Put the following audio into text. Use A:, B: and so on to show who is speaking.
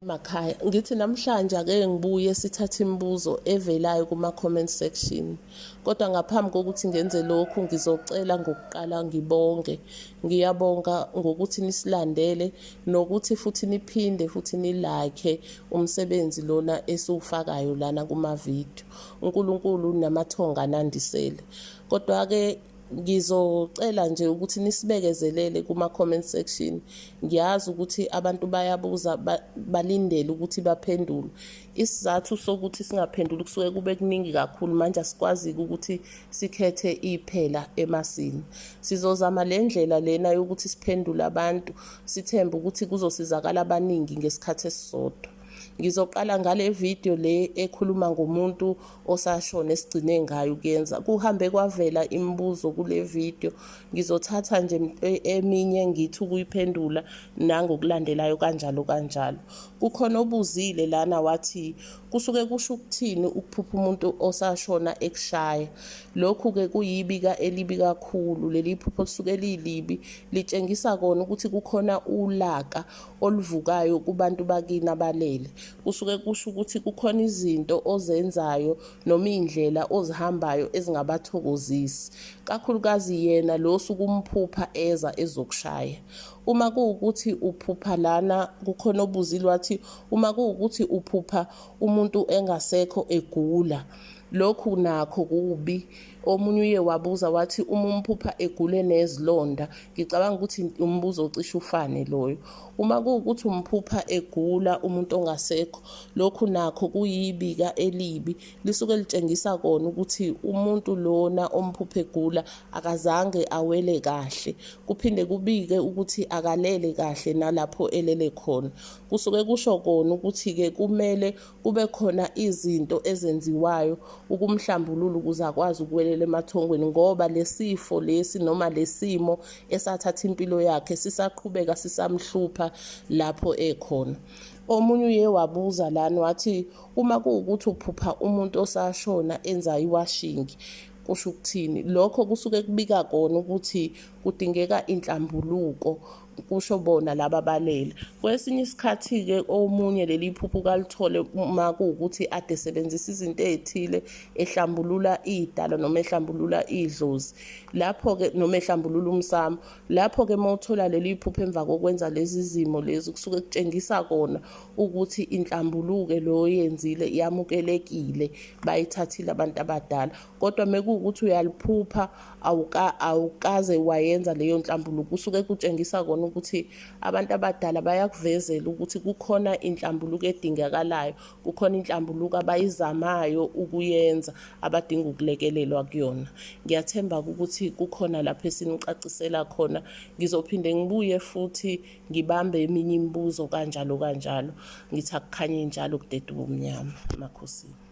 A: Makhaya ngithi namhlanje ake ngibuye sithathe imibuzo evelayo kuma-comment section kodwa ngaphambi kokuthi ngenze lokhu ngizocela ngokuqala ngibonge ngiyabonga ngokuthi nisilandele nokuthi futhi niphinde futhi nilakhe umsebenzi lona esiwufakayo lana kumavidiyo unkulunkulu namathonga anandisele kodwa-ke ngizocela nje ukuthi nisibekezelele kuma-comment section ngiyazi ukuthi abantu bayabuza balindele ukuthi baphendulwe isizathu sokuthi singaphenduli kusuke kube kuningi kakhulu manje asikwazi-ke ukuthi sikhethe iphela emasini sizozama le ndlela lena yokuthi siphendule abantu sithembe ukuthi kuzosizakala abaningi ngesikhathi esisodwa ngizoqala ngale video le ekhuluma ngomuntu osashona esigcine ngayo ukuyenza kuhambe kwavela imibuzo kule video ngizothatha nje e, eminye ngithi ukuyiphendula nangokulandelayo kanjalo kanjalo kukhona obuzile lana wathi kusuke kusho ukuthini ukuphupha umuntu osashona ekushaya lokhu ke kuyibika elibi kakhulu leli phupho lisuke lilibi litshengisa kona ukuthi kukhona ulaka oluvukayo kubantu bakini abalele kusuke kusho ukuthi kukhona izinto ozenzayo noma iy'ndlela ozihambayo ezingabathokozisi kakhulukazi yena lo osuke umphupha eza ezokushaya uma kuwukuthi uphupha lana kukhona obuzile wathi uma kuwukuthi uphupha umuntu engasekho egula lokhu nakho kubi Omunye uye wabuza wathi uma umphupha egule nezilonda, ngicabanga ukuthi umbuzo ocishe ufane loyo. Uma kuwukuthi umphupha egula umuntu ongasekho, lokhu nakho kuyibika elibi, lisuke litshengisa kona ukuthi umuntu lona omphupha egula akazange awele kahle. Kuphinde kubike ukuthi akalele kahle nalapho elele khona. Kusuke kusho kona ukuthi-ke kumele kube khona izinto ezenziwayo ukumhlambulula ukuze akwazi ukuwelela emathongweni ngoba lesifo lesi noma lesimo esathatha impilo yakhe sisaqhubeka sisamhlupha lapho ekhona omunye uye wabuza lana wathi uma kuwukuthi uphupha umuntu osashona enza iwashingi kusho ukuthini lokho kusuke kubika kona ukuthi kudingeka inhlambuluko kusho bona laba balele kwesinye isikhathi-ke omunye leli phuphu kalithole uma kuwukuthi ade sebenzisa izinto ey'thile ehlambulula iy'dalo noma ehlambulula idlozi lapho-ke noma ehlambulula umsamo lapho-ke uma uthola leli phuphu emva kokwenza lezi zimo lezi kusuke kutshengisa kona ukuthi inhlambuluke loyo yenzile yamukelekile bayithathile abantu abadala kodwa mekuwukuthi uyaliphupha awuka awukaze wayenza leyo nhlambuluko kusuke kutshengisa kona ukuthi abantu abadala bayakuvezela ukuthi kukhona inhlambuluko edingakalayo kukhona inhlambuluko abayizamayo ukuyenza abadinga ukulekelelwa kuyona ngiyathemba ukuthi kukhona lapho esinicacisela khona ngizophinde ngibuye futhi ngibambe eminye imibuzo kanjalo kanjalo ngithi akukhanye njalo kudede ubumnyama makhosini